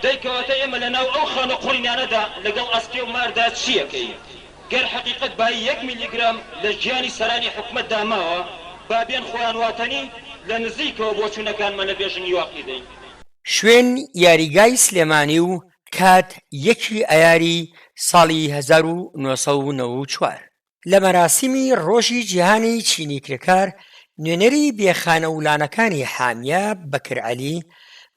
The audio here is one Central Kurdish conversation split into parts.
دەی کەواتە ئێمە لە ناو ئەو خانە قوڕینانەدا لەگەڵ ئەسکێ و ماردا چی ئەکەین؟ گەر حەقیقەت بایی یەک میلیگرام لە گیانی سەرانی حکومەتدا ماوە، با بێن خۆیان واتەنی لە نزیکەوە بۆچوونەکانمان لە بێژنگی واقی دەین. شوێن یاریگای سلێمانی و کات یەکی ئایاری ساڵی هەزار و نۆ سەد و نەوە و چوار. لە مەراسیمی ڕۆژی جیهانی چینی کرێکار، نوێنەری بێ خانە و لانەکانی حامیە بەکر عەلی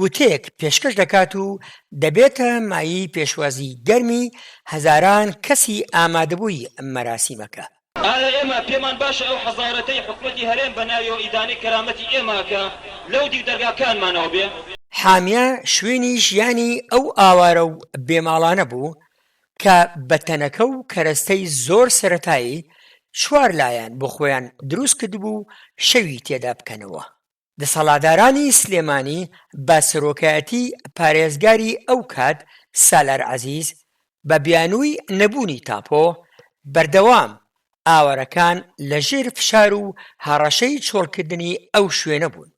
وتەیەک پێشکەش دەکات و دەبێتە مایەی پێشوازی گەرمی هەزاران کەسی ئامادەبووی مەراسیمەکە. ئایا ئێمە پێمان باشە ئەو حەزارەتەی حکومەتی هەرێم بە ناویەوە ئیدانەی کەرامەتی ئێمە ئەکا لەو دیو دەرگاکانمانەوە بێ؟ حامیە شوێنی ژیانی ئەو ئاوارە و بێ ماڵانە بوو، کە بە تەنەکە و کەرەستەی زۆر سەرەتایی چوار لایەن بۆ خۆیان دروست کردبوو و شەوی تێدا بکەنەوە. دەسەڵادارانی سلێمانی بە سەرۆکایەتی پارێزگاری ئەو کات سالار عەزیز بە بیانووی نەبوونی تاپۆ، بەردەوام ئاوارەکان لە ژێر فشار و هەڕەشەی چۆڵکردنی ئەو شوێنە بوون.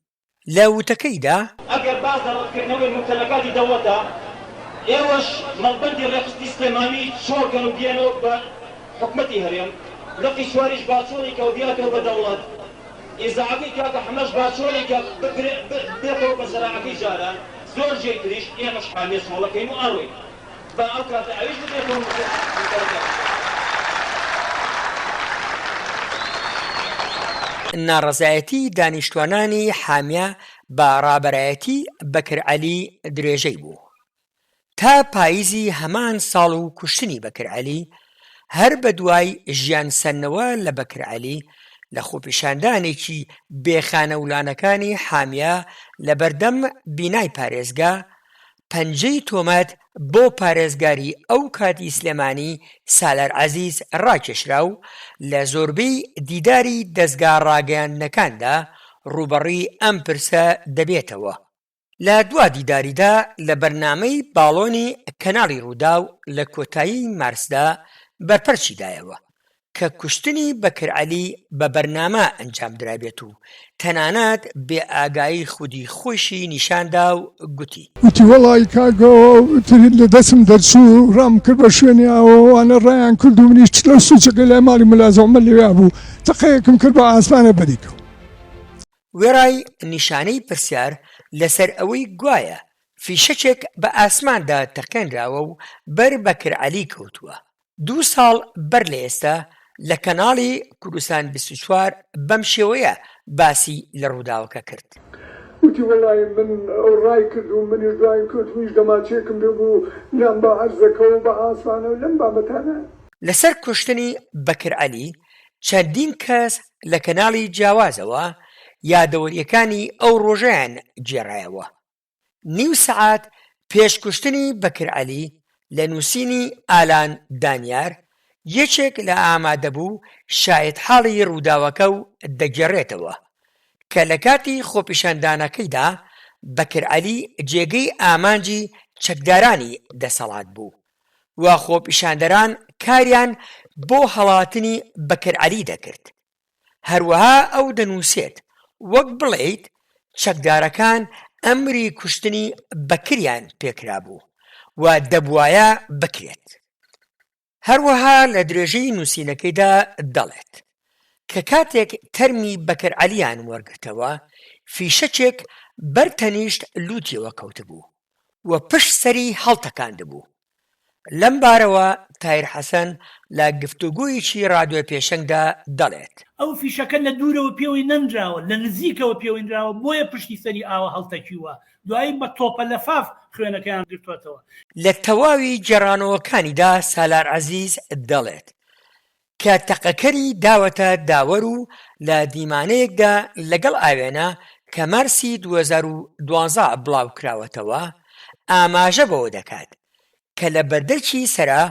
لە وتەکەیدا، ئەگەر باس لە ڕەتکردنەوەی مومتەلەکاتی دەوڵەتە، ئێوەش مەڵبەندی ڕێکخستنی سلێمانی چۆڵکەن و بیەنەوە بە حکومەتی هەرێم، لقی چواریش باچۆڵیکە و بیاتەوە بە دەوڵەت، ئیزاعەکەی کاکە حەمەش باچۆڵیکە ببێتەوە بە زەراعەکەی جاران، زۆر جێی تریش، ئێمەش حامیە چۆڵەکەین و ئەڕۆین. با ئەو کاتە ئەویش بچێ خۆم بکوژم نووسەری دەنگ خۆش. ناڕەزایەتی دانیشتوانانی حامیە بە ڕابەرایەتی بەکر عەلی درێژەی بوو تا پایزی هەمان ساڵ و کوشتنی بەکر عەلی هەر بە دوای ژیان سەندنەوە لە بەکر عەلی لە خۆپیشاندانێکی بێ خانەولانەکانی حامیە لە بەردەم بینای پارێزگا پەنجەی تۆمەت بۆ پارێزگاری ئەو کاتی سلێمانی سالار عەزیز ڕاکێشرا و لە زۆربەی دیداری دەزگا ڕاگەیاندنەکاندا ڕووبەڕووی ئەم پرسە دەبێتەوە. لە دوا دیداریدا لە بەرنامەی باڵۆنی کەناڵی ڕووداو لە کۆتایی مارسدا بەرپەرچی دایەوە کە کوشتنی بەکر عەلی بە بەرنامە ئەنجام درابێت و تەنانەت بێ ئاگایی خودی خۆیشی نیشان دا و گوتی. گوتی وەڵایی کاک ئەوترین لە دەستم دەرچوو و ڕام کرد بە شوێنی ئاو و ئەوانە ڕایان کرد و منیش چلە و سوچەکەی لای ماڵی ملا زەومەر لەوێا بوو تەقەیەکم کرد بە ئاسمانێ بەری کەوت. وێڕای نیشانەی پرسیار لە سەر ئەوەی گوایە فیشەکێک بە ئاسماندا تەقێنراوە و بەر بەکر عەلی کەوتووە، دوو ساڵ بەر لە ئێستا لە کەناڵی کوردستان بیست و چوار بەم شێوەیە باسی لە ڕووداوەکە کرد. وتی، وەڵای من ئەو ڕای کرد و منیش دواین کەوت، منیش دەماچەیەکم پێ بوو لام بە عەرزەکە و بە عاسمانە و لەم بابەتانە. لەسەر کوشتنی بەکر عەلی چەندین کەس لە کەناڵی جیاوازەوە یادەوەرییەکانی ئەو ڕۆژەیان گێڕایەوە. نیو سەعات پێش کوشتنی بەکر عەلی لە نووسینی ئالان دانیار، یەکێک لە ئامادەبوو شایەتحاڵی رووداوەکە و دەگێڕێتەوە، کە لە کاتی خۆپیشاندانەکەیدا بەکر عەلی جێگەی ئامانجی چەکدارانی دەسەڵات بوو و خۆپیشاندەران کاریان بۆ هەڵاتنی بەکر عەلی دەکرد. هەروەها ئەو دەنووسێت، وەک بڵێیت چەکدارەکان ئەمری کوشتنی بەکریان پێکرابوو و دەبوایە بکرێت. هەروەها لە درێژەی نووسینەکەیدا دەڵێت، کە کاتێک تەرمی بەکر عەلییان وەرگرتەوە، فیشەکێک بەر تەنیشت لووتیەوە کەوتبوو و پشت سەری هەڵتەکاندبوو، لەمبارەوە تایر حەسەن لە گفتوگۆیەکی رادیۆ پێشەنگدا دەڵێت. ئەو فیشەکە لە دوورەوە پێوەی نەنراوە، لە نزیکەوە پێوەی نراوە، بۆیە پشتی سەری ئاوا هەڵتەکیووە، دوایی بە تۆپە لەفاف خوێنەکەیان گرتووەتەوە. لە تەواوی گێڕانەوەکانیدا سالار عەزیز دەڵێت، کە تەقەکەری داوەتە داوەر و لە دیمانەیەکدا لەگەڵ ئاوێنە کە مارسی دوو هەزار و دوازدە بڵاوکراوەتەوە ئاماژە بەوە دەکات کە لە بەردەرکی سەرا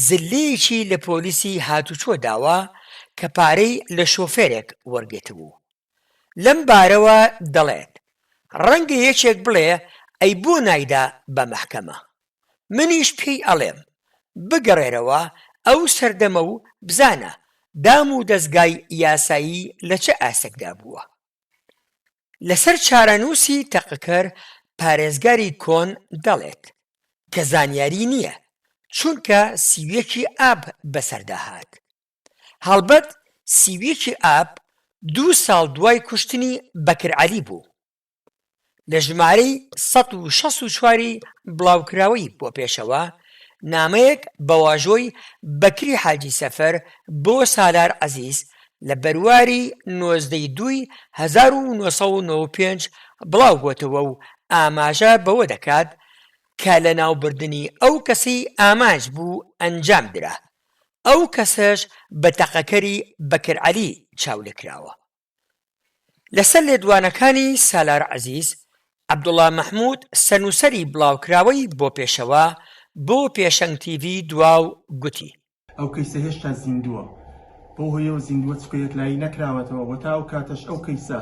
زللەیەکی لە پۆلیسی هاتوچۆ داوە کە پارەی لە شۆفێرێک وەرگرتبوو. لەم بارەوە دەڵێت، ڕەنگە یەکێک بڵێ ئەی بۆ نایدا بە مەحکەمە؟ منیش پێی ئەڵێم، بگەڕێرەوە ئەو سەردەمە و بزانە دام و دەزگای یاسایی لە چ ئاستێکدا بووە. لەسەر چارەنووسی تەقەکەر پارێزگاری کۆن دەڵێت، کە زانیاری نییە، چونکە سی و یەکی ئاب بەسەردا هات. هەڵبەت سی و یەکی ئاب دوو ساڵ دوای کوشتنی بەکر عەلی بوو لە ژمارەی سەد و شەست و چواری بڵاوکراوەی بۆ پێشەوا نامەیەک بە واژۆی بەکری حاجی سەفەر بۆ سالار عەزیز لە بەرواری نۆزدە ی دووی هەزار و نۆ سەد و نۆ و پێنج بڵاو بۆتەوە و ئاماژە بەوە دەکات کە لەناوبردنی ئەو کەسەی ئامانج بوو ئەنجام درا ئەو کەسەش بە تەقەکەری بەکر عەلی چاولێکراوە. لەسەر لێدوانەکانی سالار عەزیز، عەبدوڵا مەحمود سەرنووسەری بڵاوکراوەی بۆ پێشەوە بۆ پێشەنگ تیڤی دواو گوتی، ئەو کەیسە هێشتا زیندووە بەو هۆیەوە زیندووە چونکە یەکلایی نەکراوەتەوە و تا ئەو کاتەش ئەو کەیسە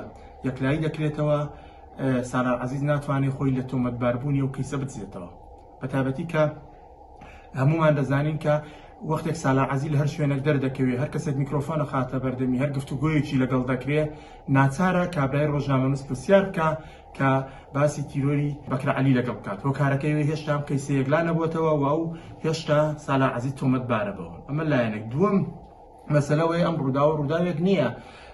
یەکلایی دەکرێتەوە سالار عەزیز ناتوانێت خۆی لە تۆمەتباربوونی ئەو کەیسە بدزێتەوە. بەتابەتی کە هەموومان دەزانین کە وەختێک سالا عزیل هەر شوێنێک دەردەکەوێت هەر کەسێک میکرۆفۆنە خاتە بەردەمی هەر گفتوگویەکی لەگەڵ دەکرێت ناچارە کابرای ڕۆژنامەنووس پرسیار بکە کە باسی تیرۆری بەکرە علی لەگەڵ بکات هۆکارەکەی هێشتا ئەم قەیسەیەک لا نەبووتەوە و ئەو هێشتا سالا عزیز تۆمەتبارە بەوە ئەمە لایەنێک دووەم مەسەلە ئەوەیە ئەم ڕووداوە ڕووداوێک نییە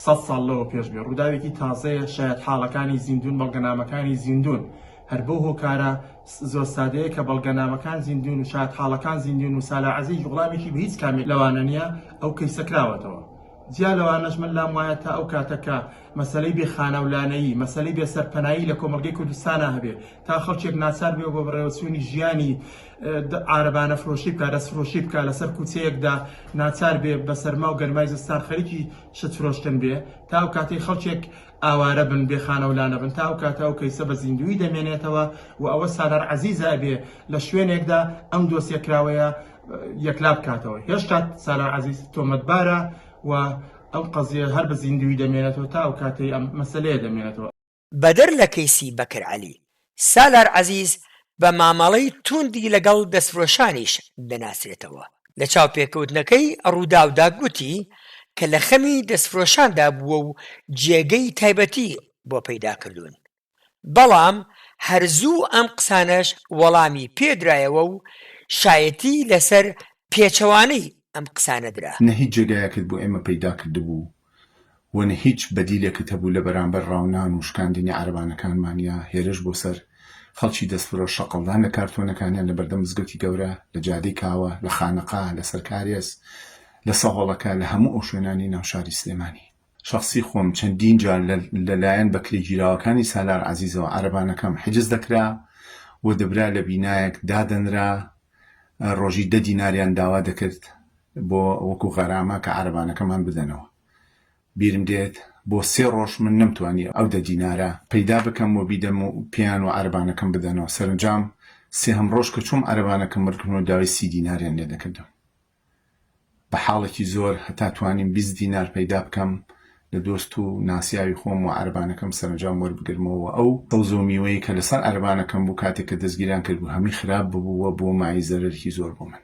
سەد ساڵ لەوە پێش بێ، ڕووداوێکی تازەیە، شایەتحاڵەکانی زیندوون، بەڵگەنامەکانی زیندوون. هەر بەو هۆکارە زۆر سادەیە کە بەڵگەنامەکان زیندوون و شایەتحاڵەکان زیندوون و سالار عەزیز وڵامێکی بە هیچ کامێک لەوانە نییە، ئەو کەیسە کراوەتەوە. جیا لەوانەش من لام وایە تا ئەو کاتە کە مەسەلەی بێ خانە و لانەیی، مەسەلەی بێ سەرپەنایی لە کۆمەڵگەی کوردستانا هەبێ، تا خەڵکێک ناچار بێ بۆ بەڕێوەچوونی ژیانی، عارەبانە فرۆشی بکا، دەست فرۆشی بکا، لەسەر کوچەیەکدا ناچار بێ بە سەرما و گەرمای زستان خەریکی شت فرۆشتن بێ، تا ئەو کاتەی خەڵکێک ئاوارە بن بێ خانە و لانە بن، تا ئەو کاتە ئەو کەیسە بە زیندوویی دەمێنێتەوە و ئەوە سالار عەزیزە ئەبێ لە شوێنێکدا ئەم دۆسیە کراوەیە یەکلا بکاتەوە، هێشتا سالار عەزیز تۆمەتبارە و ئەم قەزیە هەر بە زیندوویی دەمێنێتەوە تا ئەو کاتەی ئەم مەسەلەیە دەمێنێتەوە. بەدەر لە کەیسی بەکر عەلی، سالار عەزیز بە مامەڵەی تووندی لەگەڵ دەستفرۆشانیش دەناسرێتەوە، لە چاوپێکەوتنەکەی رووداودا گوتی کە لە خەمی دەستفرۆشاندا بووە و جێگەی تایبەتی بۆ پەیدا کردوون، بەڵام هەر زوو ئەم قسانەش وەڵامی پێدرایەوە و شایەتی لەسەر پێچەوانەی ئەم قسانە درا. نە هیچ جێگایەکت بۆ ئێمە پەیدا کردبوو و نە هیچ بەدیلێکت هەبوو لە بەرامبەر ڕاونان و شکاندنی عەرەبانەکانمان یا هێرش بۆ سەر خەڵکی دەستفرۆش شەقڵدان لە کارتۆنەکانیان لە بەردەم مزگەوتی گەورە، لە جادەی کاوە، لە خانەقا، لە سەر کارێز، لە سەهۆڵەکە، لە هەموو ئەو شوێنانی ناو شاری سلێمانی. شەخسی خۆم چەندین جار لە لایەن بەکرێگیراوەکانی سالار عەزیزەوە عەرەبانەکەم حجز دەکرا و دەبرا لە بینایەک دادەنرا ڕۆژی دە دیناریان داوا دەکرد بۆ وەکو غەرامە کە عەرەبانەکەمان بدەنەوە. بیرم دێت بۆ سێ ڕۆژ من نەمتوانی ئەو دە دینارە پەیدا بکەم و بیدەم و پێیان و عەرەبانەکەم بدەنەوە. سەرەنجام سێهەم ڕۆژ کە چووم عەرەبانەکەم مردبوون و داوای سی دیناریان لێ دەکردم. بە حاڵێکی زۆر هەتا توانیم بیست دینار پەیدا بکەم لە دۆست و ناسیاوی خۆم و عەرەبانەکەم سەرەنجام وەربگرمەوە و ئەو سەوز و میوەی کە لەسەر عەرەبانەکەم بوو کاتێک کە دەستگیریان کرد بوو هەمی خراپ ببوو و بووە مایەی زەرەرێکی زۆر بۆ من.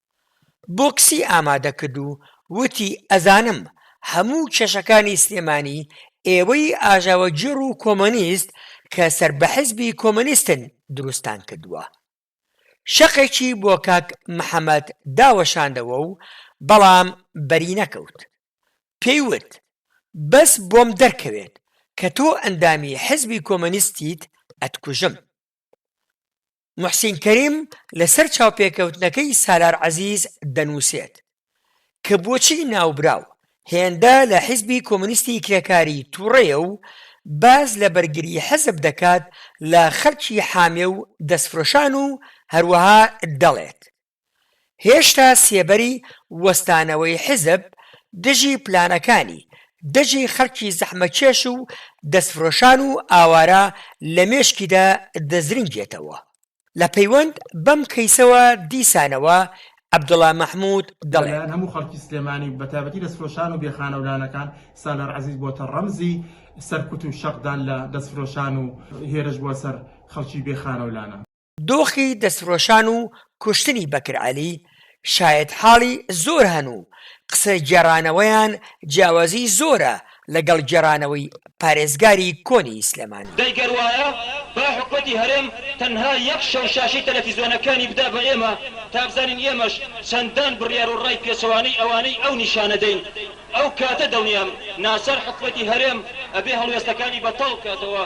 بۆکسی ئامادەکرد و وتی، ئەزانم هەموو کێشەکانی سلێمانی ئێوەی ئاژاوەگێڕ و کۆمۆنیست کە سەر بە حیزبی کۆمۆنیستن دروستتان کردووە. شەقێکی بۆ کاک محەمەد داوەشاندەوە و بەڵام بەری نەکەوت. پێی وت، بەس بۆم دەرکەوێت کە تۆ ئەندامی حیزبی کۆمۆنیستیت ئەتکوژم. موحسین کەریم لەسەر چاوپێکەوتنەکەی سالار عەزیز دەنووسێت، کە بۆچی ناوبراو هێندە لە حیزبی کۆمۆنیستی کرێکاری تووڕەیە و باس لە بەرگری حیزب دەکات لە خەڵکی حامێ و دەستفرۆشان و هەروەها دەڵێت، هێشتا سێبەری وەستانەوەی حیزب دژی پلانەکانی، دژی خەڵکی زەحمەتکێش و دەستفرۆشان و ئاوارە لە مێشکیدا دەزرنگێتەوە. لە پەیوەند بەم کەیسەوە دیسانەوە عەبدوڵا مەحمود دەڵێ. لەلایەن هەموو خەڵکی سلێمانی و بەتایبەتی دەستفرۆشان و بێ خانەولانەکان سالار عەزیز بۆتە ڕەمزی سەرکوت و شەقدان لە دەستفرۆشان و هێرش بۆ سەر خەڵکی بێ خانەولانە. دۆخی دەستفرۆشان و کوشتنی بەکر عەلی شایەتحاڵی زۆر هەن و قسە گێڕانەوەیان جیاوازیی زۆرە لەگەڵ گێڕانەوەی پارێزگاری کۆنی سلێمانی. دەی گەر وایە با حکومەتی هەرێم تەنها یەک شەو شاشەی تەلەفیزۆنەکانی بدا بە ئێمە تا بزانین ئێمەش چەندان بڕیار و ڕای پێچەوانەی ئەوانەی ئەو نیشانە دەین ئەو کاتە دڵنیام ناچار حکومەتی هەرێم ئەبێ هەڵوێستەکانی بەتاڵ بکاتەوە.